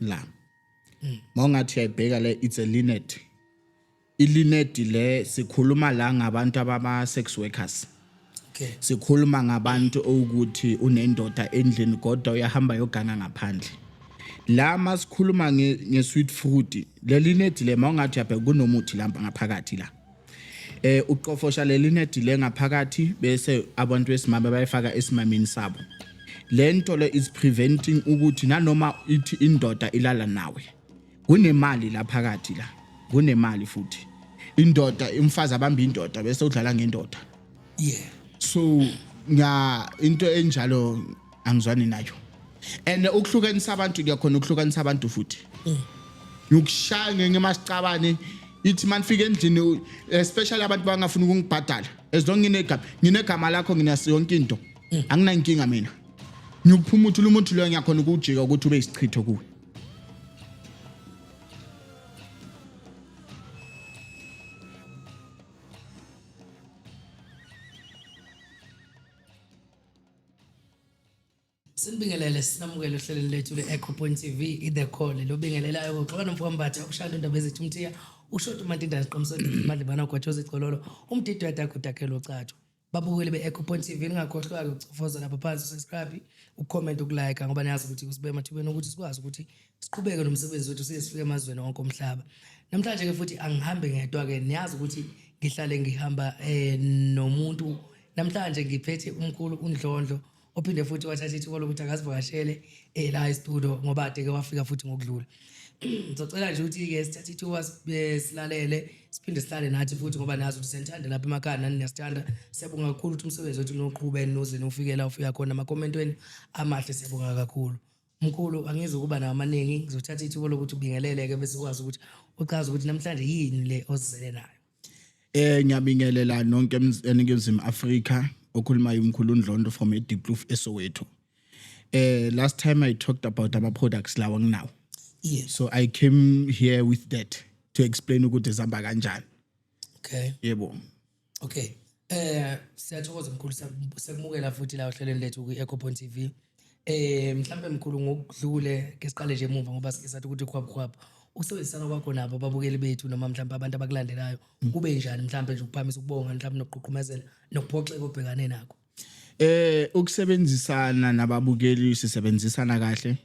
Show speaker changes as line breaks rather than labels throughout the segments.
la mm. mawungathi uyayibheka le it's a linet ilinedi le sikhuluma la ngabantu abama sex workers okay
sikhuluma ngabantu
ukuthi unendoda endlini kodwa uyahamba yogana ngaphandle la masikhuluma nge sweet fruit lelinedi le mawungathi yabheka kunomuthi lampa ngaphakathi la eh uqofosha leli nedi lengaphakathi bese abantu besimame bayifaka esimamini sabo lento le is preventing ukuthi nanoma ithi indoda ilala nawe kunemali la phakathi la kunemali futhi indoda umfazi abamba indoda bese udlala ngendoda yeah
so
nga into enjalo angizwani nayo and ukuhlukanisa abantu kuyakhona ukuhlukanisa abantu futhi mm. ngikushaya ngenye masicabane ithi manifika endlini especially abantu bangafuni ukungibhadala as long nginegama nginegama lakho nginasi yonke into mm. anginankinga mina ngiyokuphuma uthi umuntu loyo ngiyakhona ukujika ukuthi ube isichitho kuwe
Sinibingelele sinamukele ohlelweni lethu le-Echo Point TV i-The Call lobingelelayo kuxoxa nomfowabo Mbatha ukushaya indaba ezithi umthiya ushoti uMantindana siqomisa madlibana ugwatshoza igcololo umdidi wedaka udakhela ucatsho babukeli be-Echo Point TV ningakhohlwa-ke ukucofoza lapha phansi usubscribe ucomment ukulike ngoba niyazi ukuthi kusibe emathubeni ukuthi sikwazi ukuthi siqhubeke nomsebenzi wethu size sifike emazweni onke omhlaba namhlanje-ke futhi angihambi ngedwa-ke niyazi ukuthi ngihlale ngihamba um nomuntu Namhlanje ngiphethe umkhulu uNdlondlo ophinde futhi wathatha ithuba lokuthi akasivakashele eh la e-studio ngoba ade ke wafika futhi ngokudlula. Ngizocela nje ukuthi ke sithathe ithuba sibe- silalele siphinde sihlale nathi futhi ngoba nazi ukuthi senithanda lapha emakhaya nani niyasithanda. Siyabonga kakhulu ukuthi umsebenzi wethu noqhube noze nofike la ufika khona amakomenti wenu amahle siyabonga kakhulu. Mkhulu angizi ukuba nawo amaningi ngizothatha ithuba lokuthi ubingelele ke bese ukwazi ukuthi uchaze ukuthi namhlanje yini le ozizele nayo. Eh ngiyabingelela
nonke eningizimu Africa okhuluma umkhulu uNdlondo from eDiploof eSoweto. Eh last time I talked about ama products lawa nginawo. Yes. So I
came
here with that to explain ukuthi zihamba kanjani. Okay.
Yebo.
Okay.
Eh siyathokoza mkhulu sekumukela futhi la ohlelweni lethu kwi Ecopoint TV. Eh mhlambe mkhulu ngokudlule ke siqale nje emuva ngoba sike sathi ukuthi khwaphu khwaphu ukusebenzisana kwakho nabo ababukeli bethu noma mhlawumbe abantu abakulandelayo mm. kube njani mhlawumbe nje ukuphamisa ukubonga mhlawumbe nokuqhuqhumezela nokuphoxeka obhekane nakho eh ukusebenzisana
nababukeli sisebenzisana kahle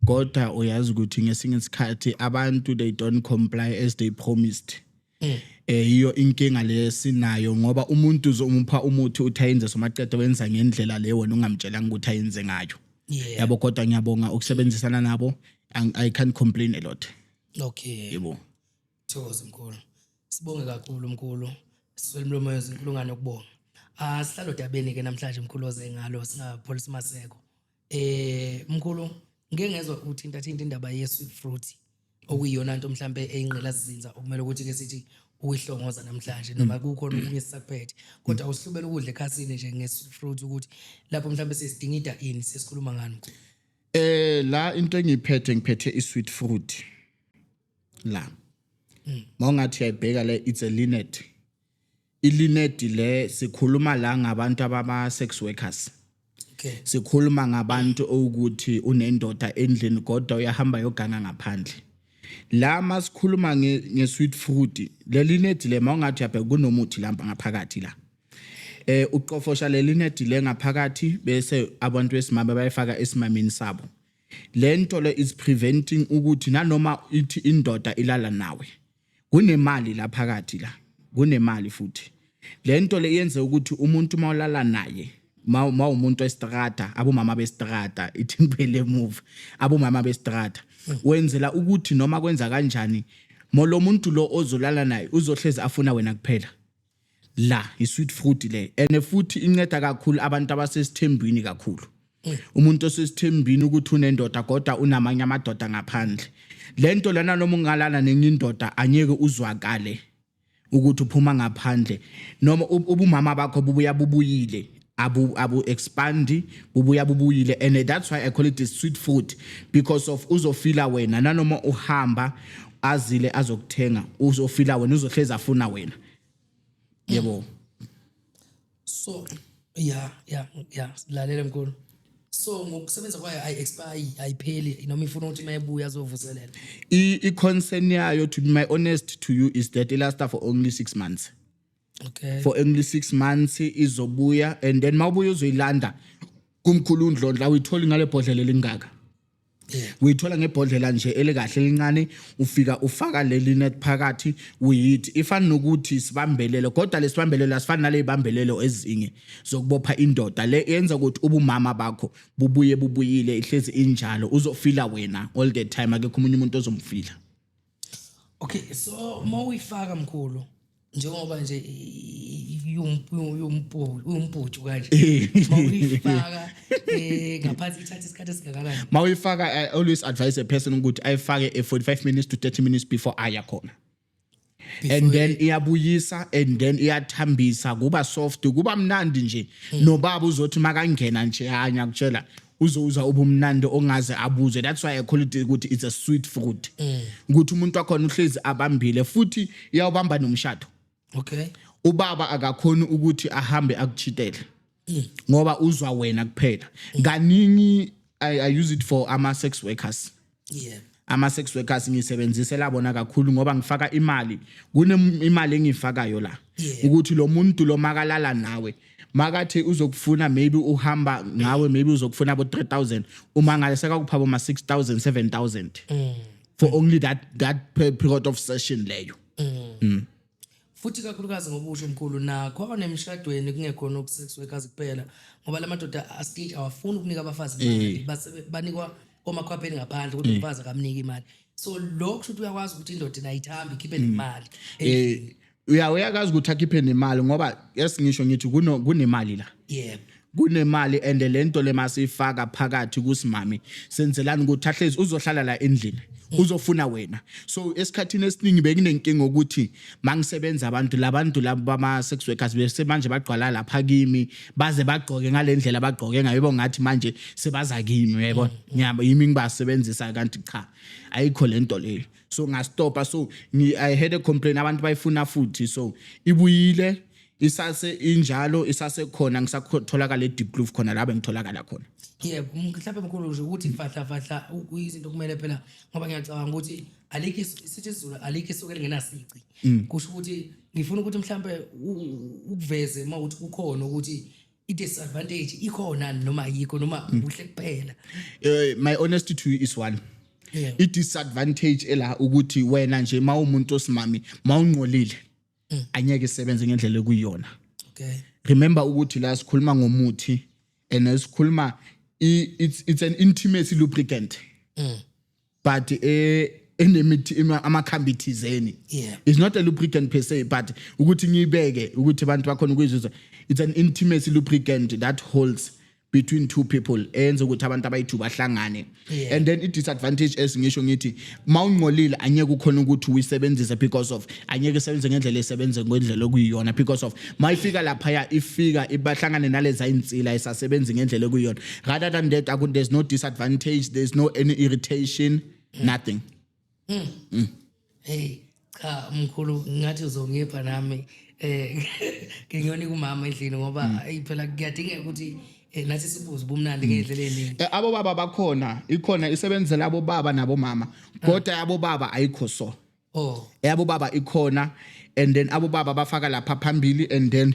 kodwa uyazi ukuthi ngesinye isikhathi abantu they don't comply as they promised Mm. eh yiyo inkinga lesinayo ngoba umuntu uzomupha umuthi uthi ayenze somaqede wenza ngendlela le wena ungamtshelanga ukuthi ayenze ngayo yeah yabo kodwa ngiyabonga ukusebenzisana nabo Ang- i can't complain a lot okay yebo thokoza mkhulu
sibonge kakhulu mkhulu siswele umlomo yezinkulungwane ukubonga ah sihlalo dabeni ke namhlanje mkhulu oze ngalo singapholisa maseko eh mkhulu ngeke ngezwe uthinta thinta indaba ye sweet fruit okuyiyona nto mhlambe eyinqila sizinza okumele ukuthi ke sithi uyihlongoza namhlanje noma mm. kukhona okunye sisakuphethe kodwa mm. uhlubela ukudla ekhasini nje nge sweet fruit ukuthi lapho mhlambe sesidingida ini sesikhuluma ngani eh la
into engiphethe ngiphethe i sweet fruit la mm. mawungathi uyayibheka le it's a linnet ilinedi le sikhuluma la ngabantu abama sex workers okay
sikhuluma ngabantu
ukuthi unendoda endlini kodwa uyahamba yoganga ngaphandle la masikhuluma nge, nge sweet fruit lelinedi le mawungathi yabheka kunomuthi lamba ngaphakathi la eh uqofosha lelinedi le ngaphakathi bese abantu besimame bayifaka esimamini sabo lento le is preventing ukuthi nanoma ithi indoda ilala nawe Kunemali la phakathi la. Kunemali futhi. Lento le yenze ukuthi umuntu mawulala naye mawumuntu estrata abomama bestrata ithi ngiphele emuva abomama bestrata hmm. wenzela ukuthi noma kwenza kanjani molo muntu lo ozolala naye uzohlezi afuna wena kuphela la isweet fruit le and futhi inceda kakhulu abantu abasesithembini kakhulu mm. umuntu osesithembini ukuthi unendoda kodwa unamanye amadoda ngaphandle lento lana noma ungalala nenye indoda anyeke uzwakale ukuthi uphuma ngaphandle noma ubumama bakho bubuya bubuyile abu abu expandi bubuya bubuyile and that's why i call it a sweet food because of uzofila wena nanoma uhamba azile azokuthenga uzofila wena uzohlezi afuna wena yebo
so
yeah
yeah yeah lalela mkhulu so ngokusebenza kwayo ayi expire ayipheli noma ifuna ukuthi mayebuya azovuselela i concern
yayo to be my honest to you is that it last for only 6 months okay. for
only six
months izobuya and then uma ubuya uzoyilanda kumkhulu undlondla uyitholi ngale bhodlela elingaka
uyithola ngebhodlela
nje elikahle elincane ufika ufaka leli net phakathi uyithi ifana nokuthi sibambelelo kodwa lesibambelelo asifani nalezibambelelo ezinye zokubopha indoda le yenza ukuthi ubumama bakho bubuye bubuyile ihlezi injalo uzofila wena all the time akekho umunye umuntu ozomfila
Okay so uma uyifaka mkhulu njengoba nje umputhu kanje eh. mawuyifaka eh ngaphansi ithatha isikhathi esingakanani mawuyifaka i
always advise a person ukuthi ayifake a 45 minutes to 30 minutes before aya khona and then iyabuyisa and then iyathambisa kuba soft kuba mnandi nje hmm. nobaba uzothi makangena nje hanya kutshela uzowuza ubumnandi ongaze abuzwe that's why i call it ukuthi it's a sweet fruit mm. ukuthi umuntu wakhona uhlezi abambile futhi iyawubamba nomshado okay
ubaba
akakhona ukuthi ahambe akuchitele mm. ngoba uzwa wena kuphela mm. kaningi i, I use it for ama sex workers yeah
ama-sex workers
ngisebenzisela bona kakhulu ngoba ngifaka imali kunemali engiyifakayo la yeah. ukuthi lo muntu lo makalala nawe makathi uzokufuna maybe uhamba ngawe maybe uzokufuna abo 3000 uma ngale sekakuphaba ma 6000 7000 mm. for only that that period of session leyo mm. Mm.
Futhi ikakhulukazi ngoba usho mkhulu nakho nemishadweni kungekhona ubu sex workers kuphela ngoba lamadoda astage awafuni ukunika abafazi imali Eh. basebe- banikwa omakhwapheni ngaphandle kodwa umfazi akamniki imali so lokho kusho ukuthi uyakwazi ukuthi indoda inayithamba ikhiphe Mm. nemali Eh uya
uyakazi ukuthi akhiphe nemali ngoba yes ngisho ngithi kuno kunemali la. yebo
kunemali and
lento le masifaka phakathi kusimami senzelani ukuthi ahlezi uzohlala la endlini uzofuna wena so esikhathini esiningi bekunenkinga ukuthi mangisebenza abantu labantu labo bama sex workers bese manje bagqwala lapha kimi baze bagqoke ngalendlela bagqoke ngayo yebo ngathi manje sebaza kimi yebo ngiyabo yimi ngibasebenzisa kanti cha ayikho lento leyo so ngastopa so i had a complaint abantu bayifuna futhi so ibuyile isase injalo isasekhona ngisatholakala eDeep Kloof khona la bengitholakala khona yebo mhlawumbe
mkhulu nje ukuthi fahla fahla kuyizinto kumele phela ngoba ngiyacabanga ukuthi alikho isithi isizulu alikho isuke lingenasici mm. kusho ukuthi ngifuna ukuthi mhlawumbe ukuveze uma ukuthi kukhona ukuthi i-disadvantage ikhona noma ayikho noma mm. kuhle kuphela eh, my
honesty to you is one yeah.
i-disadvantage
ela ukuthi wena nje uma umuntu osimami mawungcolile mm. anyeke isebenze ngendlela ekuyona okay
remember ukuthi
la sikhuluma ngomuthi and esikhuluma it's it's an intimacy lubricant mm. but eh enemithi amakhambi thizeni yeah. it's not
a lubricant per
se but ukuthi ngiyibeke ukuthi abantu bakhona ukuyizuzwa it's an intimacy lubricant that holds between two people eyenza ukuthi abantu abayithu bahlangane yeah. and then i-disadvantage esingisho ngithi ma ungcolile anyeke ukhona ukuthi uyisebenzise because of anyeke isebenze ngendlela esebenze ngendlela okuyiyona because of ma ifika laphaya ifika ibahlangane naleza insila esasebenzi ngendlela okuyiyona rather than that there's no disadvantage there's no any irritation nothing Mm. Mm.
Hey, cha mkhulu ngathi uzongipha nami eh ngiyoni kumama endlini ngoba mm. ayi phela kuyadingeka ukuthi eh, nathi sibuze ubumnandi mm. ngendlela eningi. Eh, abo baba bakhona,
ikhona isebenzela abo baba nabo mama. Ah. Kodwa yabo baba ayikho so. Oh. Yabo baba ikhona and then abo baba bafaka lapha phambili and then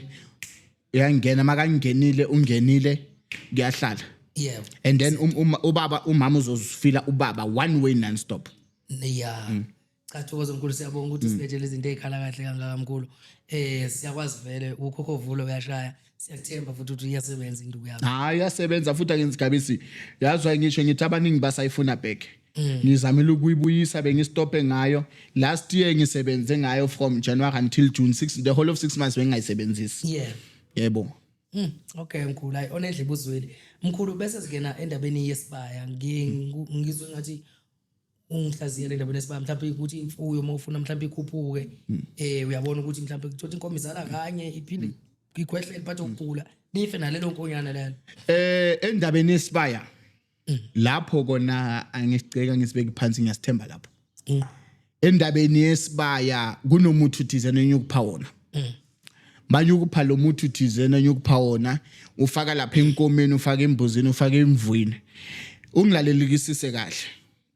uyangena makangenile ungenile kuyahlala yeah and
then um, um,
ubaba umama uzozifila ubaba one way non stop yeah
mm. cha thokoza mkhulu siyabonga ukuthi mm. sibethele izinto ezikhala kahle kangaka mkhulu eh siyakwazi vele ukhokho vulo uyashaya siyakuthemba futhi ukuthi iyasebenza induku yakho hayi iyasebenza futhi
akenzi gabisi yazwa ngisho ngithi abaningi basayifuna back Mm. ngizamile ukuyibuyisa bengistophe ngayo last year ngisebenze ngayo from January until June 6 the whole of 6 months bengingayisebenzisi yeah yebo Mm, okay
mkhulu hayi onedle ibuzweli mkhulu bese singena endabeni yesibaya Ngi- ngu- ngizwe ngathi ungihlaziyele endabeni yesibaya mhlawumbe ukuthi imfuyo uma ufuna mhlawumbe ikhuphuke um uyabona ukuthi mhlawumbe kuthothi inkomo izala kanye iphinde ikhwehlele phathe ukugula nife nalelo nkonyana lelo eh endabeni
yesibaya mm. lapho kona angisiceka ngisibeke phansi ngiyasithemba lapho mm. endabeni yesibaya kunomuthi uthizene enyukupha wona mm. manje ukupha lo muthi uthizene enyukupha wona ufaka lapha enkomeni ufaka embuzini ufaka emvwini ungilalelikisise kahle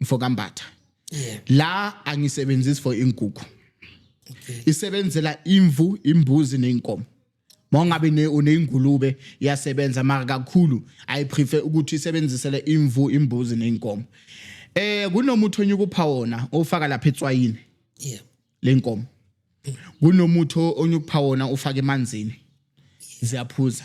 mfokambatha la angisebenzisi for inkukhu isebenzela imvu imbuzi nenkomo Mongabe ne uneyingulube iyasebenza mara kakhulu i prefer ukuthi isebenzisele imvu imbuzi neinkomo. Eh kunomuthi onyuka upha wona ofaka lapha etswayini. Yeah. Lenkomo. Kunomuthi onyuka upha wona ufaka emanzini. Ziyaphuza.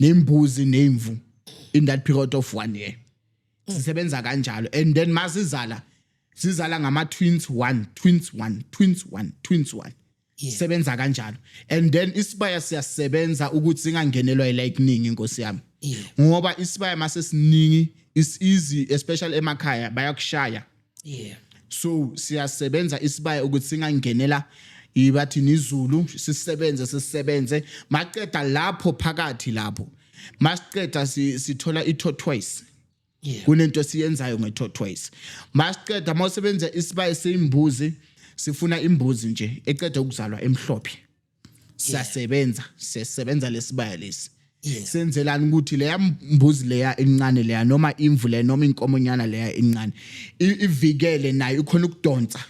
nembuzi nemvu in that period of one year sisebenza kanjalo and then masizala sizala ngama twins one twins one twins one twins one sebenza kanjalo and then isibaya siyasebenza ukuthi singangenelwa ilightning inkosi yami ngoba isibaya mase siningi is easy especially emakhaya bayakushaya yeah so siyasebenza isibaya ukuthi singangenela ibathi nizulu sisebenze sisebenze maqeda lapho phakathi lapho masiqeda sithola itho twice yeah kunento siyenzayo ngetho twice masiqeda mawusebenza isibaya seyimbuzi sifuna imbuzi nje eqeda ukuzalwa emhlophe siyasebenza sisebenza lesibaya lesi senzelani ukuthi leya mbuzi leya incane leya noma imvu leya noma inkomonyana leya incane ivikele naye ukhona ukudonsa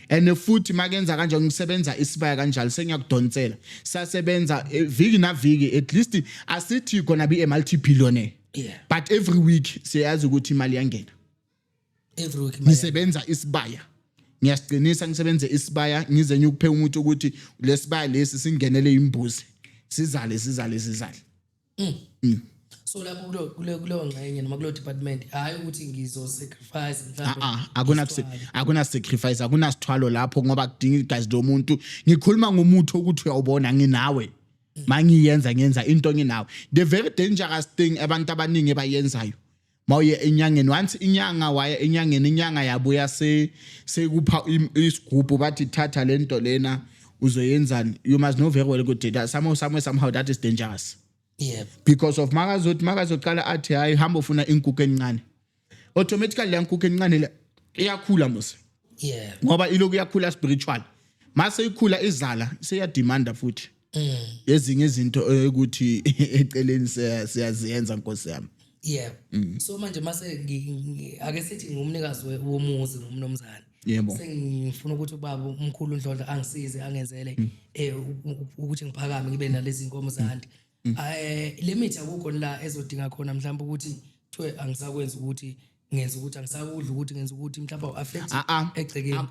and futhi makenza kanje ngisebenza isibaya kanjalo sengiyakudonsela sasebenza eh, viki na viki at least asithi kona bi multi billionaire but every week siyazi ukuthi imali yangena every
week imali ngisebenza isibaya
ngiyasiqinisa ngisebenze isibaya ngize ngiyokuphe umuthi ukuthi lesibaya lesi singenele imbuzi sizale sizale sizale yami.
so lapho kulo- kulo- kuleyo ngxenye noma kulo department hhayi ukuthi ngizosacrifice mhlawumbe Ah, akuna
isithwalo. akuna sacrifice akuna sithwalo lapho ngoba kudinga igazi lomuntu ngikhuluma ngomuthi ukuthi uyawubona nginawe mangiyenza ngenza into nginawe the very dangerous thing abantu abaningi bayenzayo mawuye enyangeni once inyanga waya enyangeni inyanga yabuya se sekupha isigubhu bathi thatha lento lena uzoyenzani you must know very well ukuthi that somehow somewhere somehow that is dangerous yep because of makazothi makazoqala athi hayi hamba ufuna inkukhu encane automatically le nkukhu encane le iyakhula mose yeah ngoba iloku yakhula spiritual mase ikhula izala seyademanda futhi mm. ezinye izinto ukuthi eceleni siyaziyenza nkosi yami yeah mm. so
manje mase ake sithi ngumnikazi womuzi ngumnomzane yebo sengifuna ukuthi ubaba umkhulu ndlondla angisize angenzele mm. eh ukuthi ngiphakame ngibe nalezi nkomo zandi mm. eh limit akukho la ezodinga khona mhlawumbe ukuthi kuthiwe angisakwenza ukuthi ngenza ukuthi angisakudla ukuthi ngenza ukuthi mhlawumbe uaffect ah, ah. egcekeni ah.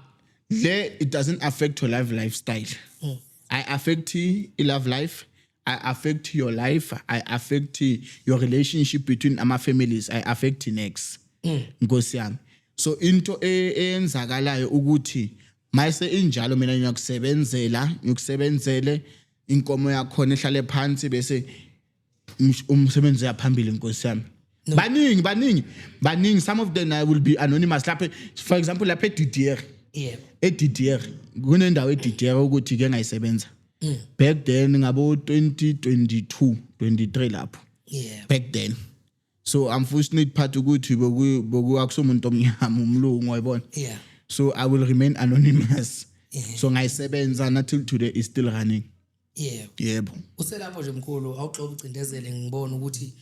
le
it doesn't affect your life lifestyle mm. i affect i love life I affect your life. I affect your relationship between ama families. I affect next. Mm. Nkosi yami. So into e, eyenzakalayo ukuthi mayise injalo mina ngiyakusebenzela, ngikusebenzele inkomo yakhona ehlale phansi bese umsebenzi uyaphambili inkosi yami no. baningi baningi baningi some of them I will be anonymous lapha for example lapha eDidier yebo eDidier kunendawo eDidier ukuthi ke ngayisebenza mm. back then ngabo 2022 23 lapho yeah back then so unfortunate part ukuthi boku boku akusomuntu omnyama umlungu wayibona yeah so i will remain anonymous yeah. so ngayisebenza until today is still running yebo yebo uselapho nje
mkhulu awugxoba ucindezele ngibona ukuthi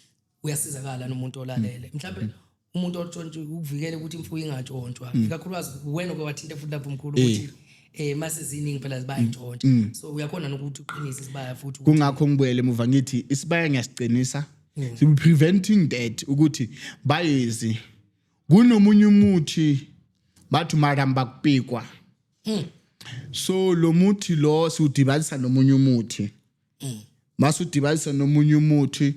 uyasizakala nomuntu olalele mm. mhlawumbe mm. umuntu otshontshe ukuvikele ukuthi imfuyo ingatshontshwa mm. ikakhulukazi wena oke wathinta futhi lapho mkhulu eh. ukuthi eh mase ziningi phela zibayintshontsha so uyakhona nokuthi uqinise isibaya futhi kungakho ngibuyele emuva
ngithi isibaya ngiyasiqinisa mm. so we preventing that ukuthi bayezi kunomunye umuthi bathi maramba kupikwa mm. so lo muthi lo siwudibanisa nomunye umuthi mm. masudibanisa nomunye umuthi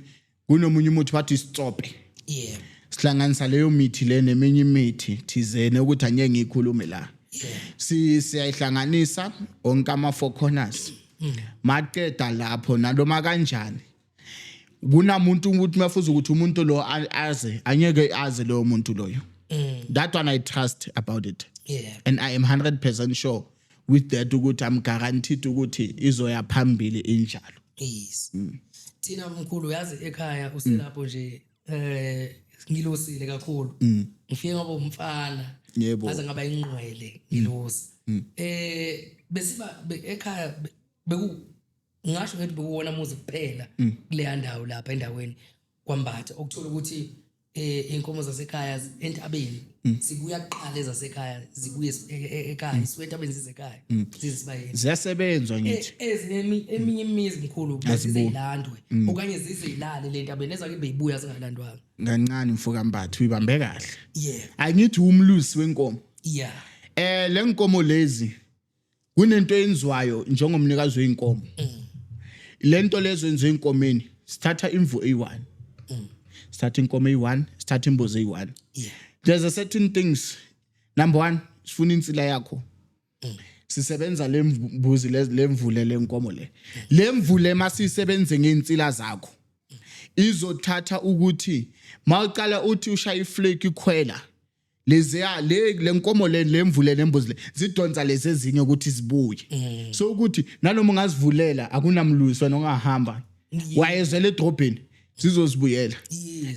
kunomunye umuthi bathi isitsope yeah sihlanganisa leyo mithi le neminye imithi thizene ukuthi angeke ngikhulume la si siyayihlanganisa onke ama four corners maqeda lapho nanoma kanjani kunamuntu ukuthi mafuza ukuthi umuntu lo aze anyeke aze loyo muntu loyo mm. that one i trust about it yeah. and i am 100% sure with that ukuthi i'm guaranteed ukuthi izoya phambili injalo yes
mm. thina mkhulu uyazi ekhaya uselapho nje eh ngilosile kakhulu mm. ngifike ngoba umfana yebo aze ngaba
ingqwele
ngilosi mm. Mm. eh besiba ekhaya beku ngingasho ngithi bekuwona muzi kuphela mm. kuleya ndawo lapha endaweni kwambatha okuthola ukuthi eh inkomo zasekhaya entabeni mm. sibuya kuqala ezasekhaya zibuye e, e, ekhaya mm. sibuya entabeni zizekhaya mm. zizisibayeni ziyasebenzwa e,
ngithi ezinemi eminye
imizi mkhulu zizilandwe okanye zizilale le ntabeni ezake beyibuya zingalandwanga kancane mfoka
mbathu uyibambe kahle yeah angithi
umlusi
wenkomo yeah
eh lenkomo
lezi kunento eyenziwayo njengomnikazi weinkomo mm. lento lezo enziwe inkomeni sithatha imvu eyi1 mm. sithatha inkomo eyi1 sithatha imbuzi eyi1 yeah there's
a certain
things number 1 sifuna insila yakho mm. sisebenza lembuzi lemvule lenkomo le lemvule masisebenze ngeinsila zakho izothatha ukuthi mawuqala uthi ushaya iflake ikhwela leziya le lenkomo le lemvule nembuzi le zidonsa lezi ezinye ukuthi zibuye mm. so ukuthi nanoma ungazivulela akunamlwiswa nongahamba wayezela edrobheni zizozibuyela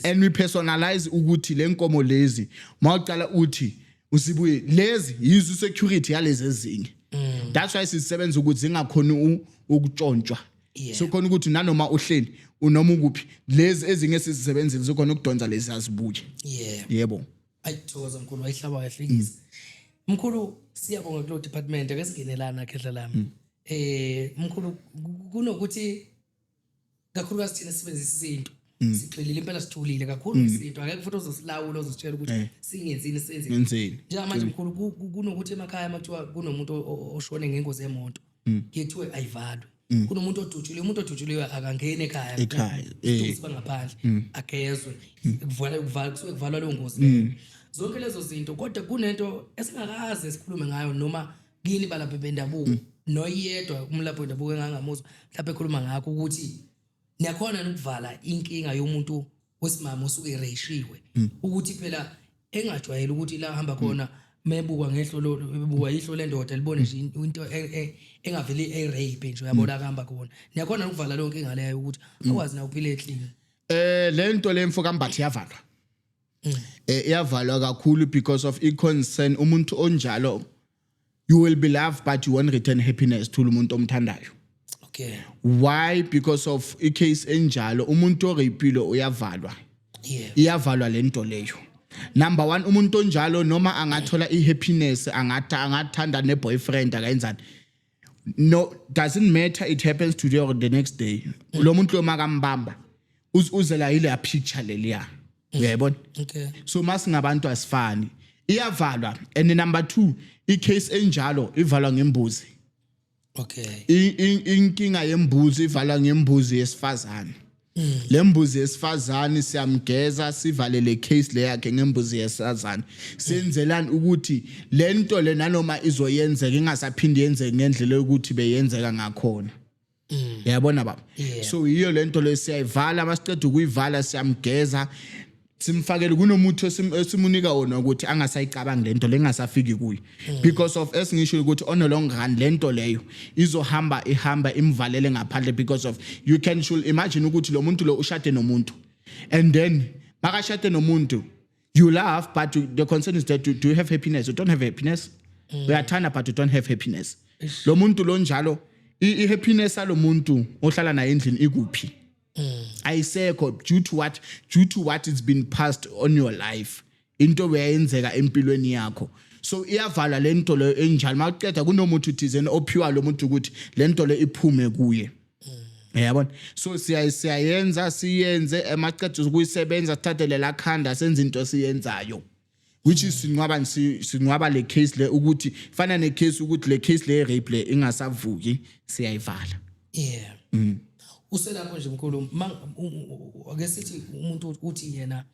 and we
personalize
ukuthi lenkomo lezi mawucala uthi usibuye lezi yizo security yalezi ezinye mm. that's why sisebenza ukuthi zingakhona ukutshontshwa yeah. so khona ukuthi nanoma uhleli unoma ukuphi lezi ezinye sizisebenzile zikhona ukudonsa lezi azibuke yeah. yebo ayithokoza mkhulu
wayihlaba kahle mm. mkhulu siyabonga kulo department ake singenelana khehla lami mm. eh mkhulu kunokuthi kakhulukazi thina sisebenzisa isintu mm. sigxilile impela sithulile kakhulu mm. isintu akekho futhi ozosilawula ozositshela ukuthi eh. singenzini senzeni njengamanje mkhulu kunokuthi emakhaya makuthiwa kunomuntu oshone ngengozi yemoto mm. kuthiwe ayivalwe mm. kunomuntu odutshuliwe umuntu odutshuliwe akangeni ekhaya ekhaya eh. bangaphandle mm. agezwe kuvala kuvala kusuke kuvalwa leyo ngozi leyo zonke lezo zinto kodwa kunento esingakaze sikhulume ngayo noma kini balaphi bendabuko noyedwa umlaphi wendabuko engangamuzwa mhlawumbe ekhuluma ngakho ukuthi niyakhona ukuvala inkinga yomuntu wesimama osuke ereyishiwe hmm. ukuthi phela engajwayele ukuthi la hamba khona hmm. mebukwa ngehlo lo bukwa ihlo lendoda libone nje into e, e, engaveli e rape nje uyabona hmm. kuhamba khona niyakhona ukuvala lonke ingaleyo ukuthi akwazi na ukuphila eclean eh lento
lemfo kambathi yavalwa eh iyavalwa kakhulu because of i concern umuntu onjalo you will be loved but you won't return happiness to umuntu omthandayo okay
why
because of i case enjalo umuntu orepile uyavalwa yeah
iyavalwa lento
leyo number 1 umuntu onjalo noma angathola i happiness angathi angathanda ne boyfriend akayenzani no doesn't matter it happens today or the next day lo muntu lo makambamba uzela yile ya picture leliya uyayibona okay so
masingabantu
asifani iyavalwa and number 2 i case enjalo ivalwa ngembuzi
okay inkinga
yembuzi ivalwa ngembuzi yesifazane Mm. lembuzi yesifazane siyamgeza sivalele case leyakhe ngembuzi yesifazane senzelani ukuthi lento le nanoma izoyenzeka ingasaphindi yenzeke ngendlela yokuthi beyenzeka ngakhona mm. yabona baba so yiyo lento le siyayivala masiqeda ukuyivala siyamgeza simfakele kunomuthi osim- esimunika wona ukuthi angasayicabangi lento lengasafiki kuye because of esingisho ukuthi on a long run lento leyo izohamba ihamba imvalele ngaphandle because of you can should imagine ukuthi lo muntu lo ushade nomuntu and then makashade nomuntu you laugh but you- the concern is that you, do you have happiness you don't have happiness uyathanda but you don't have happiness lo muntu lo njalo i- i-happiness yalo muntu ohlala naye endlini ikuphi mm. ayisekho due to what due to what it's been passed on your life into beyenzeka empilweni yakho so iyavala lento leyo enjalo makuceda kunomuntu uthizeni ophiwa lo muntu ukuthi lento le iphume kuye mm. yabona so siya siyayenza siyenze emaqeda ukuyisebenza sithathe lela khanda senze into siyenzayo which is sinqwaba sinqwaba le case le ukuthi fana ne case ukuthi le case le rape le ingasavuki siyayivala yeah
mm. uselapho nje mkhulu ake sithi umuntu uthi yena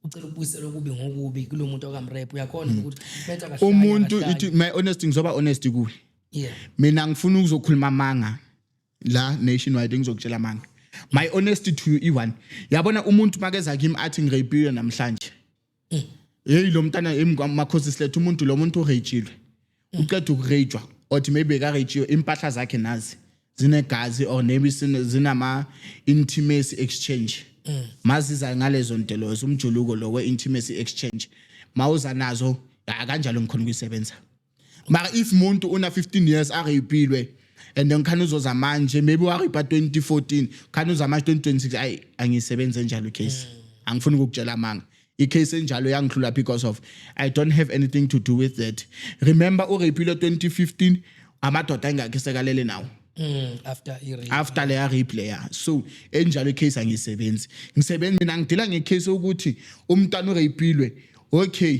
ucela ukubuyisela okubi ngokubi kulo muntu okamrape uyakhona mm. ukuthi betha kahle umuntu ithi my
honesty ngizoba honest kuwe yeah mina ngifuna ukuzokhuluma amanga la nationwide ngizokutshela amanga my honesty to you iwan yabona umuntu makeza kimi athi ngirapiwe namhlanje eh. heyi lo mntana makhosi siletha umuntu lo muntu urejilwe eh. uqeda ukurejwa othi maybe karejiywe impahla zakhe nazi zinegazi or maybe zinama intimacy exchange mm. maziza ngalezo nto lezo umjuluko lo we intimacy exchange mawuza nazo kanjalo ngikhona ukuyisebenza mara if muntu una 15 years areyipilwe and then khani uzoza manje maybe wareypa 2014 khani uza manje 2026 ayi angisebenze njalo icase mm. angifuni ukukutshela amanga icase enjalo yangihlula because of i don't have anything to do with that remember ureypile 2015 amadoda engakhe sekalele nawo Mm, after irape after leya rape leya so enjalo icase angisebenzi ngisebenzi mina ngidila ngecase ukuthi umntana ureyipilwe okay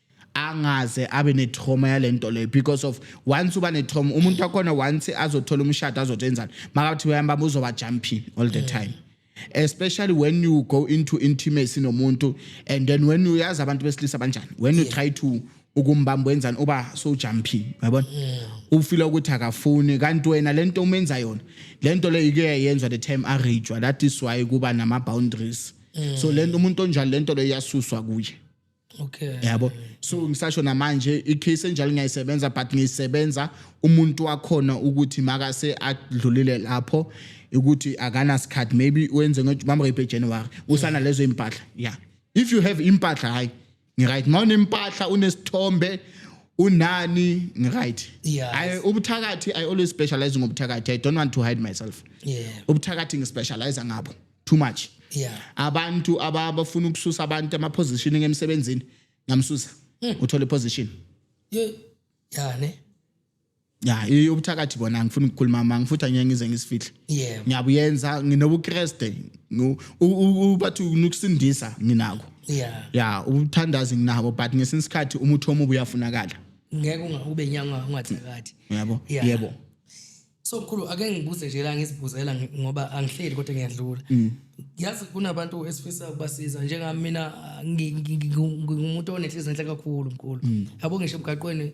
angaze abe netrauma yalento leyo because of once uba netrauma umuntu wakhona once azothola umshado azothi enzani makathi uyambamba uzoba jumping all the time especially when you go into intimacy nomuntu and then when uyazi abantu besilisa banjani when you try to ukumbamba wenzani uba so jumping yabona ufila ukuthi akafuni kanti wena lento umenza yona lento leyo ike yayenzwa the time a rejwa that is why kuba nama boundaries so lento umuntu onjalo lento leyo yasuswa kuye okay
yabo so
ngisasho namanje icase enjalo ngiyayisebenza but ngiyisebenza umuntu wakhona ukuthi makase adlulile lapho ukuthi akana sikhathi maybe wenze ngomama repe January usana lezo impahla yeah if you have impahla hayi ngiright mawune impahla unesithombe unani ngiright yes. i ubuthakathi i always specialize ngobuthakathi i don't want to hide myself yeah ubuthakathi ngispecialize ngabo too much yeah abantu abafuna ukususa abantu ama positioning emsebenzini ngamsusa hmm. uthole position yeah yeah ne ya iyobuthakathi bona ngifuna ukukhuluma mama ngifuthi angeke ngize ngisifihle yeah ngiyabuyenza nginobukreste ubathi ukusindisa nginako yeah ya ubuthandazi nginabo but ngesinye isikhathi umuthi omubi uyafunakala ngeke ungakube
nyanga ungathakathi yebo yebo
so
mkhulu ake ngibuze nje la ngizibuzela ngi- ngoba angihleli kodwa ngiyadlula Mm. yazi kunabantu esifisa ukubasiza njengami mina ngi- ngi- ngi- ngi- ngingumuntu onenhliziyo enhle kakhulu mkhulu Mm. yabo ngisho emgaqweni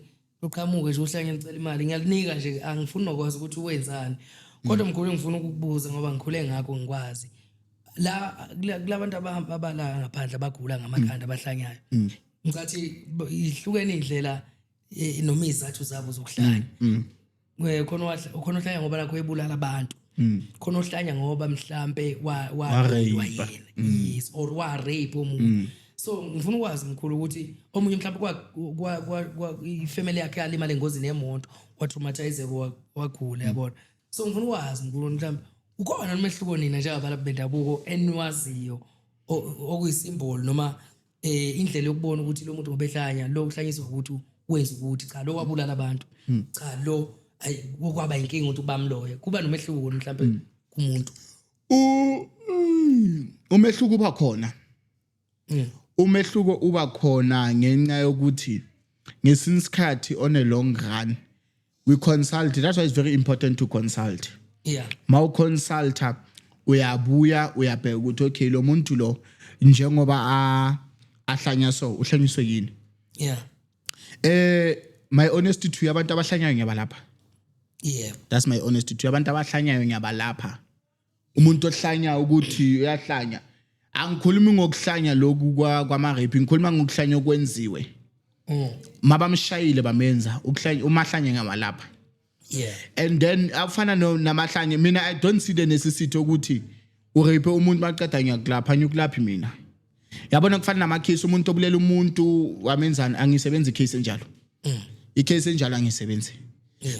luqhamuke nje uhlanye ngicela imali ngiyalinika nje angifuni nokwazi ukuthi wenzani Mm. kodwa mkhulu ngifuna ukukubuza ngoba ngikhule ngakho ngikwazi la kula- kulabantu abahamba abala ngaphandle abagula Mm. ngamakhanda abahlanyayo ngicathi b- ihlukene indlela eh, noma izathu zabo zokuhlanya Eh, khona owadla- khona ohlanya ngoba nakho ebulala abantu Mm. khona ohlanya ngoba mhlampe wa- wa- Wa-rape. Mm. wayena. yes or warape omunye so ngifuna ukwazi mkhulu ukuthi omunye mhlawumbe kwa- kwa- kwa- kwa- ifamily yakhe yalimala engozini yemoto watraumatizeka wa- wagula Mm. yabona so ngifuna ukwazi mkhulu mhlawumbe ukhona nomehluko nina njengabantu bendabuko eniwaziyo o- okuyisimboli noma eh indlela yokubona ukuthi lo muntu ngobehlanya lo uhlanyiswa ukuthi wenza ukuthi cha lo wabulala abantu hmm. cha lo ayi kwaba inkinga ukuthi ubamloye kuba nomehluko mhlawumbe hmm. kumuntu u hmm,
umehluko uba khona umehluko uba khona ngenxa yokuthi ngesinye isikhathi on a long run we consult that's why it's very important to consult yeah mawu consulta uyabuya uyabheka ukuthi okay lo muntu lo njengoba a ahlanya so uhlanyiswe yini yeah eh my honesty to abantu abahlanyayo ngiyabalapha yeah that's my honesty to abantu abahlanyayo ngiyabalapha umuntu ohlanya ukuthi uyahlanya angikhulumi ngokuhlanya lokhu kwa- kwama-rape ngikhuluma ngokuhlanya okwenziwe Mm. mabamshayile bamenza ukuhlanya umahlanye ngawalapha yeah and then afana no- namahlanye mina i don't see the necessity ukuthi urape umuntu maqeda ngiyakulapha ngiyokulaphi mina yabona kufana namakhisi umuntu obulela umuntu wamenzani angisebenzi case enjalo mm. icase enjalo angisebenzi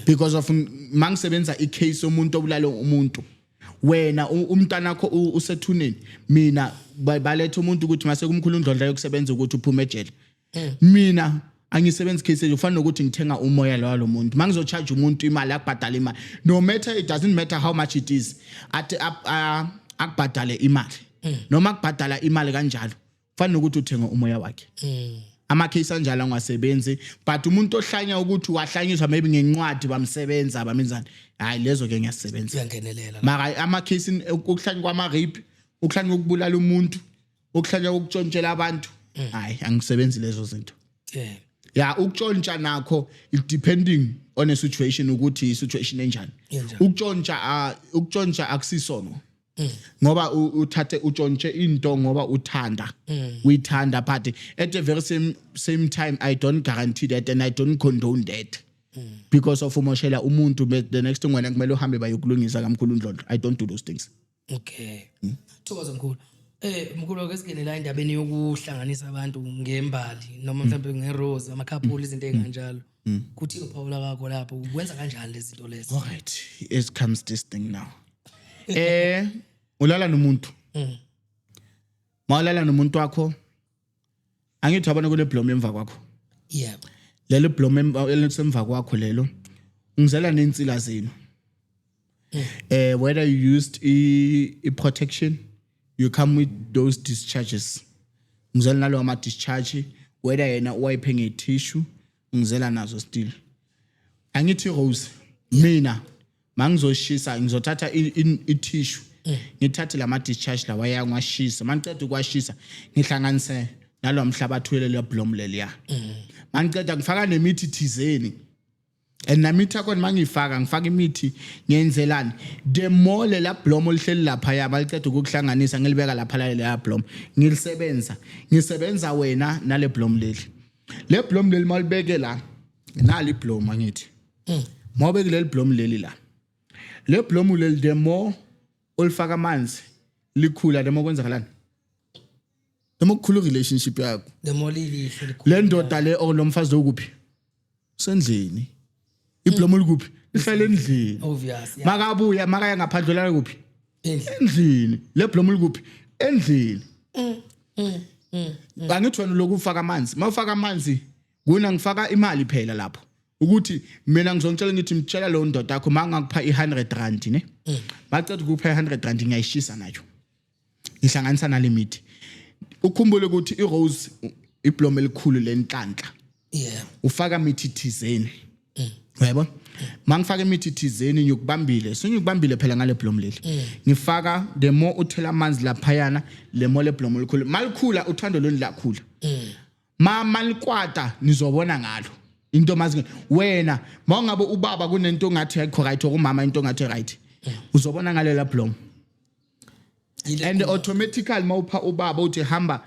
because of mangisebenza icase omuntu obulala umuntu wena umntana wakho usethuneni mina baletha umuntu ukuthi mase kumkhulu undlondla yokusebenza ukuthi uphume ejele mm. mina angisebenzi case ufana nokuthi ngithenga umoya lo walo muntu mangizo charge umuntu imali akubhadala imali no matter it doesn't matter how much it is at uh, akubhadale imali mm. noma akubhadala imali kanjalo ufana nokuthi uthenga umoya wakhe mm. ama case anjalo angasebenzi but umuntu ohlanya ukuthi wahlanyiswa maybe ngencwadi bamsebenza abamenzani hayi lezo ke ngiyasebenza uyangenelela maka
ama case
ukuhlanya kwama rape ukuhlanya ukubulala umuntu ukuhlanya ukutshontshela abantu mm. hayi angisebenzi lezo zinto yeah ya ukutshontsha nakho it depending on a situation ukuthi i situation enjani ukutshontsha ah, ukutshontsha akusisono mm. ngoba uthathe utshontshe into ngoba uthanda mm. uyithanda but at the very same same time i don't guarantee that and i don't condone that because of umoshela umuntu the next thing wena kumele uhambe bayokulungisa kamkhulu ndlondlo i don't do those things okay
hmm? thokoza mkhulu Eh mkhulu ake singene la endabeni yokuhlanganisa abantu ngembali noma hmm. mhlawumbe ngerose amakhaphuli izinto hmm. ezinganjalo kuthi uphawula kwakho lapho ukwenza kanjani lezi zinto lezi all right it
comes this thing now eh ulala nomuntu mawulala nomuntu wakho angithi wabona kule blom emva kwakho yeah
lelo blom
elisemva kwakho lelo ngizela nensila zenu mm. eh whether you used i protection you come with those discharges ngizela nalo ama discharge whether yena uwayiphe nge tissue ngizela nazo still angithi rose mina mangizoshisa ngizothatha ithishu eh. ngithathe lama discharge lawa yangwashisa mangiqeda ukwashisa ngihlanganise nalo mhlabathi welelo blom leliya eh. mangiqeda ngifaka nemithi thizeni and namithi akhona mangiyifaka ngifaka imithi ngenzelani the more lela blom olihleli lapha ya baliqeda ukukuhlanganisa ngilibeka lapha lela blom ngilisebenza ngisebenza wena nale blom leli le blom leli malibeke la nali blom angithi mm. mawube kuleli blomu leli la le blomu leli the more olifaka amanzi likhula the more kwenzakalani the more kukhulu relationship yakho the more lilihle likhula
le ndoda le
or lo mfazi lo kuphi sendlini iblomu likuphi lihlala endlini obvious makabuya
makaya
ngaphandle la kuphi endlini le blomu likuphi endlini mm, mm, mm, angithi wena lokufaka amanzi mawufaka amanzi Kuna ngifaka imali phela lapho. Ukuthi mina ngizongitshela ngithi mtshela lo ndoda yakho mangakupha i100 rand ne. Mm. Bacela ukupha i100 rand ngiyayishisa nayo. Ngihlanganisa na limit. Ukhumbule ukuthi iRose iblom elikhulu lenhlanhla. Yeah.
Ufaka mithi
thizeni. Mm. Uyayibona? mangifaka imithi thizeni ngiyokubambile sengikubambile phela ngale blom leli mm. ngifaka the more uthela amanzi laphayana le more le blom likhulu malikhula uthando lweni lakhula mm. mama likwata nizobona ngalo into mazi wena mawungabe ubaba kunento ongathi ayikho right okumama into ongathi right uzobona ngalo la blom and automatically mawupha ubaba uthi hamba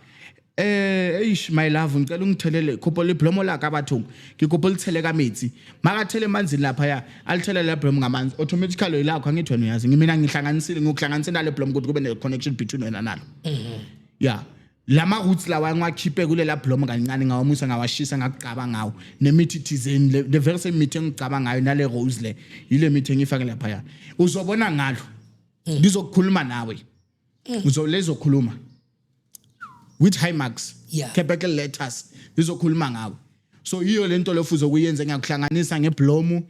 eh eish my love ngicela ungithelele khopho liblomo la kabathungu ngikopho lithele kametsi makathele emanzini lapha ya alithele le blom ngamanzi automatically yilakho angithi wena uyazi ngimina ngihlanganisile ngokuhlanganisela le blom ukuthi kube ne connection between wena nalo mhm yeah lama roots lawa ngiwakhiphe kulela blom kancane ngawamusa ngawashisa ngakugcaba ngawo nemithi thizeni le the very same mithi engigcaba ngayo nale rose le yile mithi engifake lapha ya uzobona ngalo ngizokukhuluma nawe uzolezokhuluma with high marks Yeah. capital letters izokhuluma ngawe so yiyo lento lofuzo kuyenze ngiyakuhlanganisa ngeblomu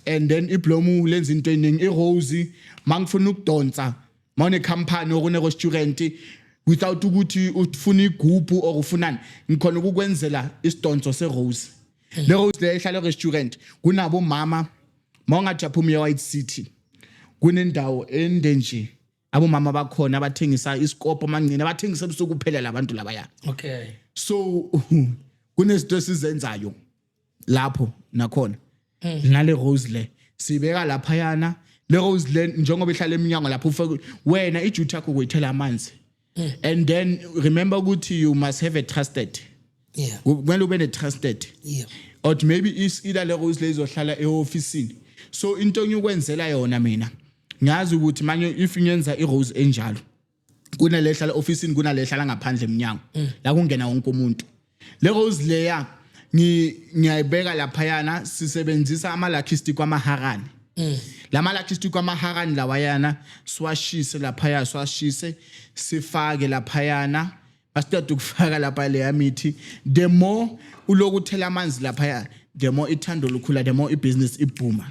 and then iblomu lenza into eningi irose mangifuna ukudonsa mawune company or une restaurant without ukuthi ufuna igubhu or ufunani ngikhona ukukwenzela isidonso serose hmm. le rose le ehlala restaurant kunabo mama mawungathi aphuma ye-white city kunendawo ende nje abomama bakhona abathengisa isikopo amancine abathengisa ebusuku kuphela labantu labaya okay so kunezinto esizenzayo lapho nakhona mm. nale rose le sibeka lapha yana le rose le njengoba ihlala eminyango lapho ufake wena iduty yakho ukuyithela amanzi mm. and then remember ukuthi you must have a trusted yeah kumele ube ne trusted yeah or maybe is ila le rose le izohlala eofficeini so into engikwenzela yona mina ngazi ukuthi manje if ngenza irose enjalo kunale ehlala office kunale ehlala ngaphandle eminyango mm. la kungena wonke umuntu le rose layer ngiyayibeka lapha yana sisebenzisa ama lucky stick kwamaharani mm. lama lucky stick kwamaharani lawa yana siwashise lapha ya siwashise sifake lapha yana basiqeda ukufaka lapha leya mithi the more ulokuthela amanzi lapha ya the more ithando lukhula the more ibusiness ibhuma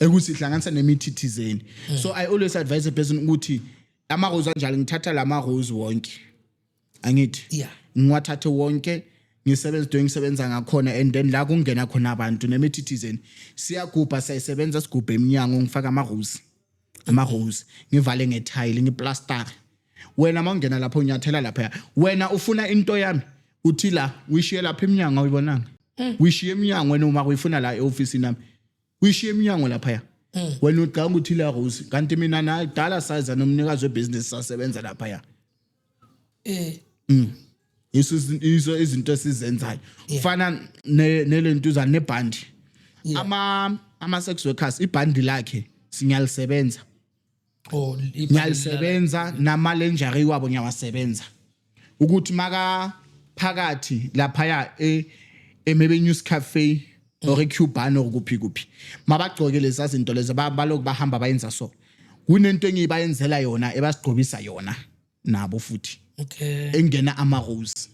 ekuthi ihlanganisa nemithi thizeni mm. so i always advise a person ukuthi amarose anjalo ngithatha la marose wonke angithi yeah
ngiwathathe wonke
ngisebenza into engisebenza ngakhona and then la kungena khona abantu nemithi thizeni siyagubha siyayisebenza sigubhe eminyango ngifaka amarose amarose ngivale ngethayile ngiplastare wena mawungena lapho unyathela lapha wena ufuna into yami uthi la uyishiye lapha eminyango uyibonanga Mm. uyishiya emnyango wena uma uyifuna la eofisini nami uyishiya emnyango laphaya mm. wena ucanga ukuthi la rose kanti mina na dala size nomnikazi webusiness sasebenza laphaya eh mm. iso iso izinto esizenzayo kufana nelentuza nebhandi ama ama sex workers ibhandi lakhe sinyalisebenza oh ngiyalisebenza namalenjari wabo ngiyawasebenza ukuthi maka phakathi lapha ya e emebe news cafe or eCuban or kuphi kuphi mabagcoke lezi izinto lezi baloku bahamba bayenza so kunento engibayenzela yona ebasigqobisa yona nabo futhi okay engena
ama rose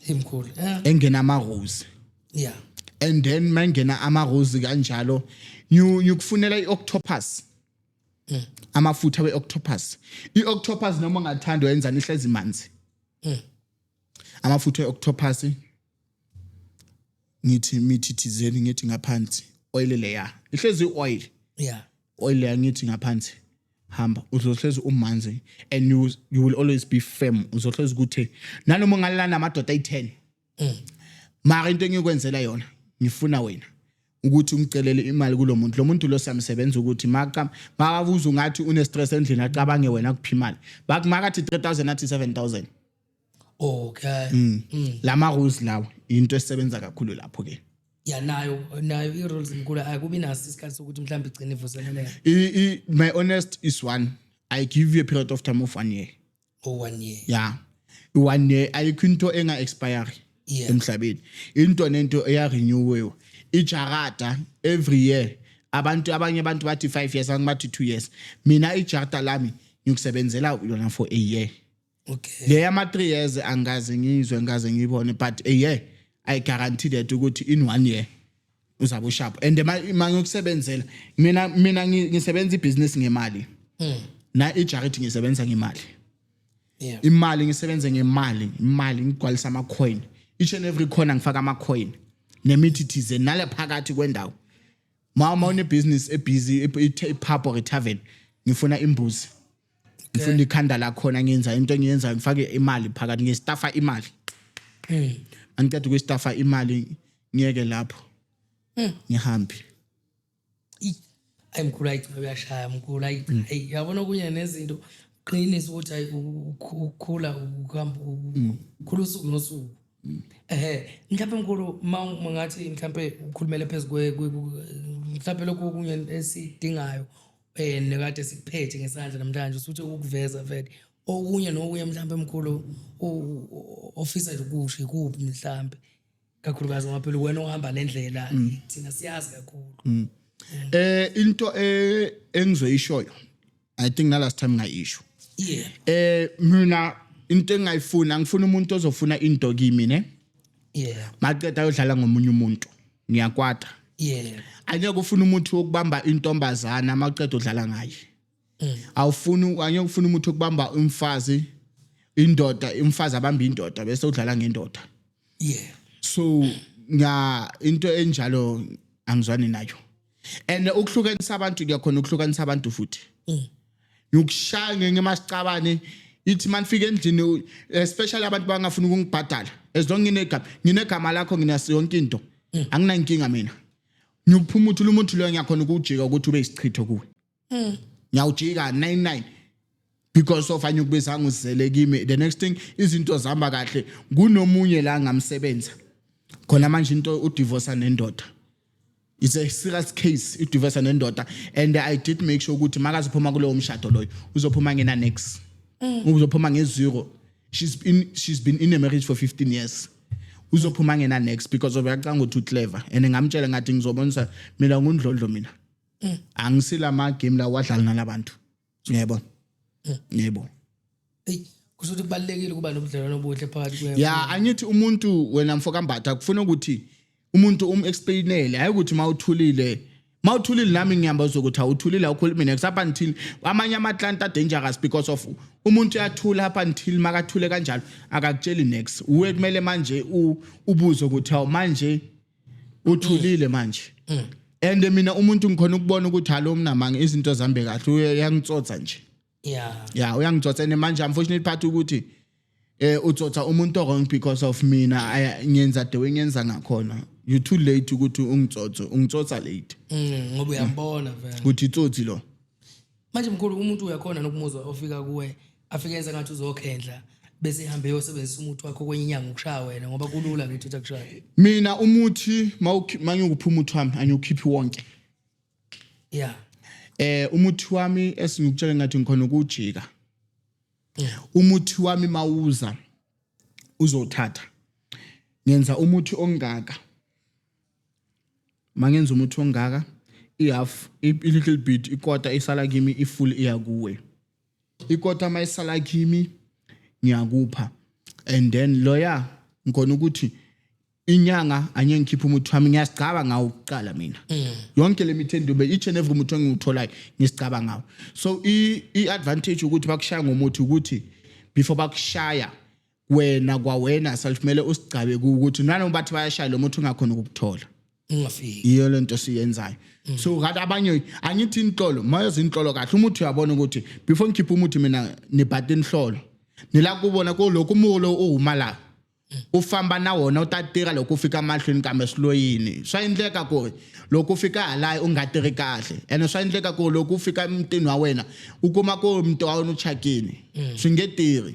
imkhulu eh, engena ama rose
yeah
and then
mangena ama rose kanjalo you you kufunela ioctopus amafutha weoctopus ioctopus noma ungathanda wenza nihlezi manzi amafutha eoctopus ngithi mithi thizeni ngithi ngaphansi oil leya ihlezi oil yeah
oil yangithi
ngaphansi hamba uzohlezi umanzi and you, you will always be firm uzohlezi ukuthi nanoma ungalala namadoda ayi-10 mm. mara into engiyokwenzela yona ngifuna wena ukuthi ungicelele imali kulo muntu lo muntu lo samsebenza ukuthi maka makabuza ungathi une-stress endlini acabange wena kuphi imali makathi 3000 athi 7000 okay
mm. mm. lama
rules lawa into esebenza kakhulu lapho ke ya nayo
nayo i rules inkulu akubi naso isikhathi sokuthi mhlawumbe igcine ivuseleleka i my honest
is one i give you a period of time of one year oh one year
yeah
one year ayikho into enga expire emhlabeni into nento eya renewewa ijarada every year abantu abanye abantu bathi 5 years angibathi 2 years mina ijarada lami ngikusebenzela yona for a year okay le yama
3 years
angaze ngizwe ngaze ngiyibone but a year i guarantee that ukuthi in one year uzabe usharp and manje ukusebenzela mina mina ngisebenza ibusiness ngemali hmm. na ijarity ngisebenza ngemali yeah
imali ngisebenza
ngemali imali ngigwalisa ama coin each and every corner ngifaka ama coin nemithi thize nale phakathi kwendawo mama une business e busy e, e, e pub or a tavern ngifuna imbuzi ngifuna ikhanda lakhona ngenza into engiyenzayo ngifake imali phakathi ngiyestafa imali mm. angiqeda ukuyestafa imali ngiyeke lapho mm. ngihambe
ayi mkhulu ayi uyashaya mkhulu ayi mm. yabona okunye nezinto qinisa ukuthi ayi ukukhula ukuhamba ukukhula usuku nosuku ehe mhlawumbe mkhulu ma ngathi mhlawumbe ukhulumele phezu mhlawumbe lokhu okunye esidingayo eh nekade sikuphethe ngesandla namhlanje usuthi ukuveza vele okunye nokunye mhlawumbe emkhulu ofisa ukusho ikuphi mhlawumbe kakhulukazi ngoba phela wena ohamba le ndlela mm. thina siyazi kakhulu mm. eh
into eh, engizoyishoyo i think na last time ngayisho yeah eh
mina
into engayifuna ngifuna umuntu ozofuna into kimi ne yeah
maqeda ayodlala
ngomunye umuntu ngiyakwata yeah
angeke ufuna umuthi
wokubamba intombazana maqeda udlala ngaye mm. awufuni angeke ufuna umuthi wokubamba umfazi indoda umfazi abamba indoda bese udlala ngendoda yeah
so
nga into enjalo angizwani nayo and ukuhlukanisa abantu kuyakhona ukuhlukanisa abantu futhi mm. ngikushaya ngeke masicabane ithi manifika endlini especially abantu bangafuni ukungibhadala as long nginegama nginegama lakho nginaso yonke into mm. anginankinga mina ngiyophuma uthi umuntu loyo ngiyakhona ukujika ukuthi ube isichitho kuwe mm. ngiyawujika 99 because of anyukubisa ngizele kimi the next thing izinto zihamba kahle kunomunye la ngamsebenza khona manje into udivorce nendoda it's a serious case udivorce nendoda and i did make sure ukuthi makaziphuma kulowo mshado loyo uzophuma ngena next mm. uzophuma ngezero she's been she's been in a marriage for 15 years uzophuma ngena next because of uyacanga ukuthi uclever and ngamtshela ngathi ngizobonisa mina ngundlondlo mina mm. angisila ma game la wadlala nalabantu yebo mm. yebo hey
kusho ukuthi kubalekile ukuba nobudlelwano obuhle phakathi kwe ya angithi umuntu
wena mfo kambatha kufuna ukuthi umuntu um explainele hayi ukuthi mawuthulile mawuthulile nami ngihamba uzokuthi awuthulile awukhulumi mina up until amanye ama client are dangerous because of umuntu uyathula up until makathule kanjalo akakutsheli next uwe kumele manje ubuze ukuthi awu manje uthulile manje Mm. and mina umuntu ngikhona ukubona ukuthi halo umnamanga izinto zambe kahle uye- uyangitsotsa nje yeah ya uyangitsotsa and manje unfortunately part ukuthi eh utsotsa umuntu wrong because of mina I- ngenza the way ngenza ngakhona you too late ukuthi ungitsotse ungitsotsa late Mm, ngoba uyambona
vele ukuthi itsotsi lo
manje mkhulu
umuntu uyakhona nokumuzwa ofika kuwe afike enza ngathi uzokhendla bese ihambe yosebenzisa umuthi wakho kwenye inyanga ukushaya wena ngoba kulula ngithi uthi akushaya mina umuthi
mangiyokupha umuthi wami angiwukhiphi wonke
yeah eh
umuthi wami esingikutshela ngathi ngikhona ukujika umuthi wami mawuza uzothatha ngenza umuthi ongaka mangenza umuthi ongaka ihalf i-little bit ikota isala kimi i-full iya kuwe ikota uma isala kimi ngiyakupha and then loya ngikona ukuthi inyanga anye ngikhipha umuthi wami ngiyasigcaba ngawo kuqala mina mm. yonke le mithi endube each and every umuthi engiwutholayo ngisigcaba ngawo so i-advantage ukuthi bakushaya ngomuthi ukuthi before bakushaya wena kwawena self kumele usigcabe ku- ukuthi nanoma bathi bayashaya lo muthi ungakhona ukukuthola ungafiki yiyo
lento siyenzayo
so ngathi abanye angithi inhlolo mayoze inhlolo kahle umuthi uyabona ukuthi before ngikhiphe umuthi mina nibhata inhlolo nila kubona kulokhu umulo uwuma la ufamba na wona utatira loko ufika mahlweni kambe siloyini swa endleka ku loko ufika halayi u nga tirhi kahle ene swa endleka ku loko ufika emutini wa wena u kuma ku muti wa wena u chakini swi nge tirhi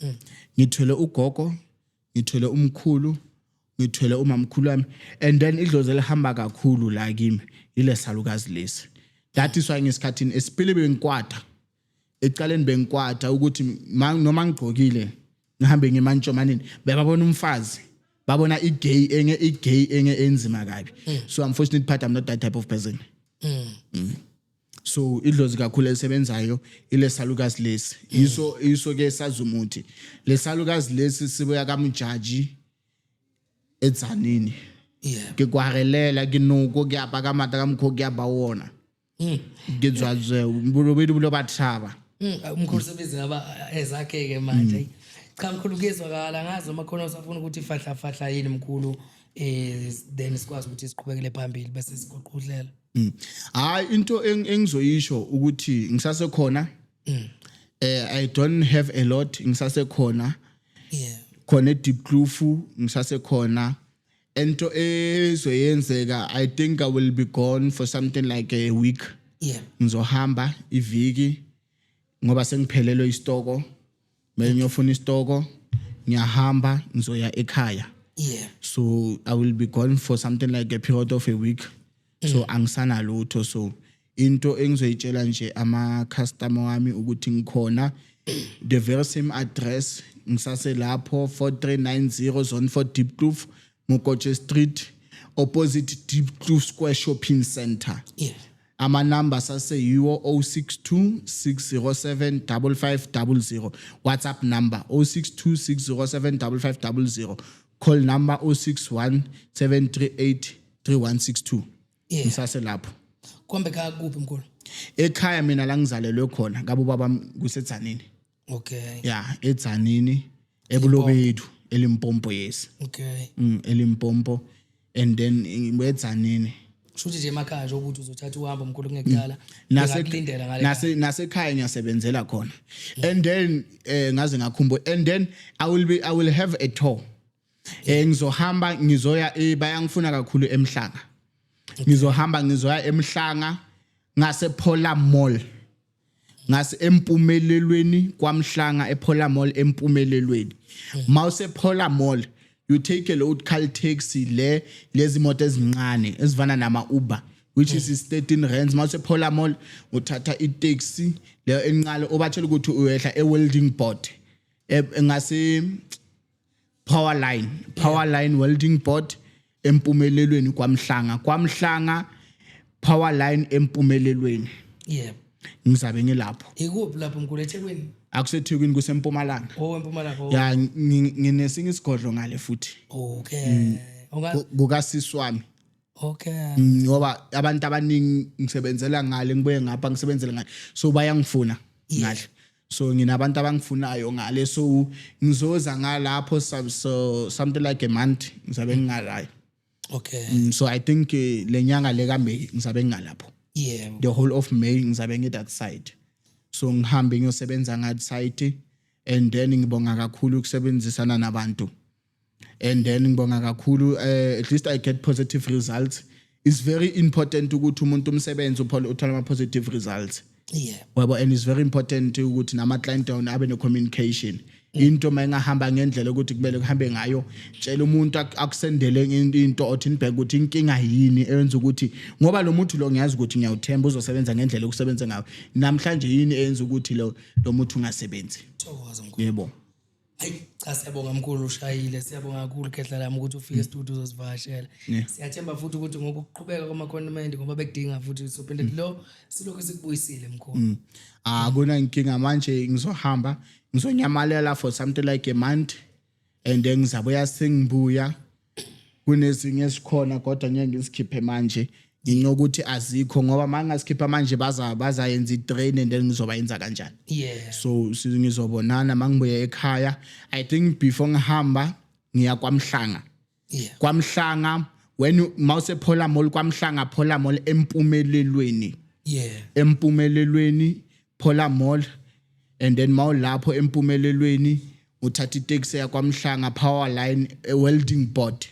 mm. ngithwele ugogo ngithwele umkhulu ngithwele umamkhulu wami and then idlozi elihamba kakhulu la kimi ile salukazi lesi that is why ngesikhathini esipili bengikwada ecaleni bengikwada ukuthi noma ngigqokile ngihambe ngemantshomanini bebabona umfazi babona igay enge igay enge enzima kabi mm. so unfortunately part i'm not that type of person mm. Mm. so idlozi kakhulu elisebenzayo ilesalukazi lesi yiso yiso ke sazumuthi lesalukazi lesi sibuya kamujaji edzanini yeah ke kwarelela ke noko ke apa ka mata ka mkho ke aba wona mm. ke dzwazwe mbulo bedu bulo bathaba mm, umkhulu sebenzi
ngaba ezakhe ke manje mm. cha mkhulu kuyezwakala ngazi uma khona usafuna ukuthi fahla fahla yini mkhulu eh then sikwazi ukuthi siqhubekele phambili bese sigoqudlela Mm. Hayi
into engizoyisho ukuthi ngisase khona. Mm. Eh I don't have a lot ngisase khona. Yeah. Khona eDeep Kloof ngisase khona. Ento ezoyenzeka I think I will be gone for something like a week. Yeah. Ngizohamba iviki ngoba sengiphelelwe istoko. mele ngiyofuna isitoko ngiyahamba ngizoya ekhaya yeah so i will be gone for something like a period of a week so angisana lutho so into engizoyitshela nje ama customer wami ukuthi ngikhona the very same address ngisase lapho 4390 zone 4 deep kloof mokotshe street opposite deep kloof square shopping center yeah Ama numbers ase yiwo 0626075500 WhatsApp number 0626075500 call number 0617383162 yeah. Ngisase lapho Kombe ka
kuphi mkhulu Ekhaya mina
la ngizalelwe khona ngabo babam kusetshanini okay ya edzanini ebulobethu elimpompo yes okay mm, elimpompo and then edzanini shuthi nje
emakhaya nje ukuthi uzothatha uhambo mkhulu kungekudala mm. nasekulindela
ngale nase nasekhaya ngiyasebenzela khona and then eh ngaze ngakhumbuka and then i will be i will have a tour eh ngizohamba ngizoya eh, bayangifuna kakhulu emhlanga ngizohamba ngizoya emhlanga ngase Pola Mall ngase empumelelweni kwamhlanga ephola mall empumelelweni mawuse phola mall you take a load car taxi le lezi moto ezincane ezivana nama uber which is is 13 rands mase phola mall uthatha i taxi le enqalo obatshela ukuthi uyehla e welding board e, ngase power line power line welding board empumelelweni kwamhlanga kwamhlanga power line empumelelweni yebo
ngizabe
ngilapho ikuphi lapho mkhulu
ethekwini akusethekwini
kusempumalanga oh empumalanga oh. ya
ngi-
nginesinye isigodlo ngale futhi okay
Unga- Ku-
kukasisi wami Okay.
Mm, ngoba
abantu abaningi ngisebenzela ngale ngibuye ngapha ngisebenzele ngale. So bayangifuna ngale. So nginabantu abangifunayo ngale so ngizoza ngalapho so something like a month ngizabe ngingalayo. Okay. Mm,
so I think eh,
lenyanga le ka May ngizabe ngingalapho. Yeah. The whole
of May
ngizabe ngi that side. So ngihambe ngiyosebenza ngat side and then ngibonga kakhulu ukusebenzisana nabantu. and then ngibonga kakhulu uh, at least i get positive results it's very important ukuthi umuntu umsebenzi uthola ama positive results yeah wabo and
it's very
important ukuthi nama client down abe ne communication into mayingahamba ngendlela ukuthi kumele kuhambe ngayo tshela umuntu akusendele into othi nibheke ukuthi inkinga yini eyenza ukuthi ngoba lo muntu lo ngiyazi ukuthi ngiyawuthemba uzosebenza ngendlela okusebenza ngayo namhlanje yini eyenza ukuthi lo lo muntu ungasebenzi yebo
Hayi
cha
siyabonga mkhulu ushayile siyabonga kakhulu khehla lami ukuthi ufike studio uzosivakashela. Yeah. Siyathemba futhi ukuthi ngokuqhubeka kwama condiment ngoba bekudinga futhi sophinde mm. lo silokho sikubuyisile mkhulu. Mm. Ah kuna
inkinga manje ngizohamba ngizonyamalela for something like a month and then ngizabuya sengibuya kunezinye esikhona kodwa ngeke ngisikhiphe manje ngenxa ukuthi azikho ngoba manje ngasikhipha manje baza bazayenza itrain and then ngizoba yenza kanjani yeah so
sizongizobonana
mangibuye ekhaya i think before ngihamba ngiya kwamhlanga yeah
kwamhlanga
when mawuse phola mall kwamhlanga phola mall empumelelweni yeah
empumelelweni
phola mall and then mawulapho empumelelweni ngothatha itaxi eya kwaMhlanga power line ewelding board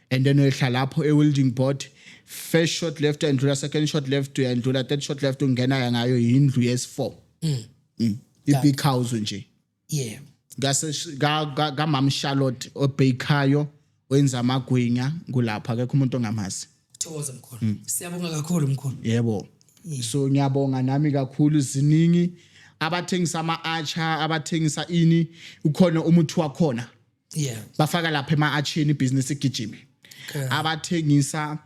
and then uyehla lapho ewelding board first shot left uyandlula second shot left uyandlula third shot left ungena ngayo yindlu yes4 mm. mm. i-big house nje yeah ngaseshikamama Charlotte obhayikhayo wenza amagwinya kulapha akekho umuntu ongamazi thokoza mkhulu
mm. siyabonga kakhulu mkhulu yebo yeah.
so ngiyabonga nami kakhulu ziningi abathengisa ama-acha abathengisa ini ukhona umuthi wakhona yeah bafaka
lapha
ema-acheni ibhizinisi igijime okay.
abathengisa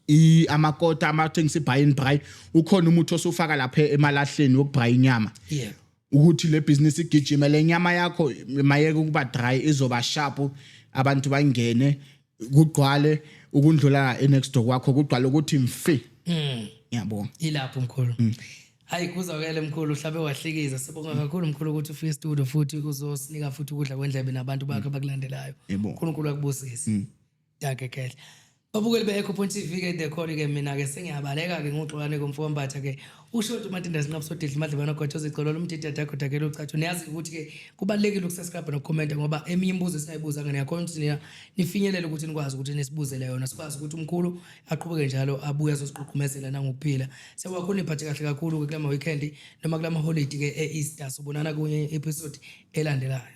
i amakota amathengisa ibuy and buy ukhona umuthi osufaka lapha emalahleni wokubuy inyama yebo ukuthi
le business
igijime le nyama yakho mayeke ukuba dry izoba sharp abantu bangene kugqwale ukundlula enext door kwakho kugqwale ukuthi mfi mm. yabo ilapho mkhulu
mm. hayi kuzakele mkhulu uhlabe wahlikiza sibonga kakhulu mkhulu ukuthi ufike studio futhi uzosinika futhi ukudla kwendlebe nabantu bakhe mm. abakulandelayo uNkulunkulu akubusise mm. Dankie Khehla. Babukeli be-Echo Point TV ke dekhona ke mina ke sengiyabaleka ke ngoxolane komfokambatha ke ushoti umatinda sinqabu sodidla imadlebana gwatsho zicolo lomdida dakho dakela ucatsho niyazi ukuthi ke kubalekile ukusubscribe nokukhomenta ngoba eminye imibuzo esingayibuza ngene yakhona ukuthi nina nifinyelele ukuthi nikwazi ukuthi nisibuzele yona sikwazi ukuthi umkhulu aqhubeke njalo abuye azosiqhuqhumezela nangokuphila sewakho niphathe kahle kakhulu ke kulama weekend noma kulama holiday ke e-Easter sobonana kunye episode elandelayo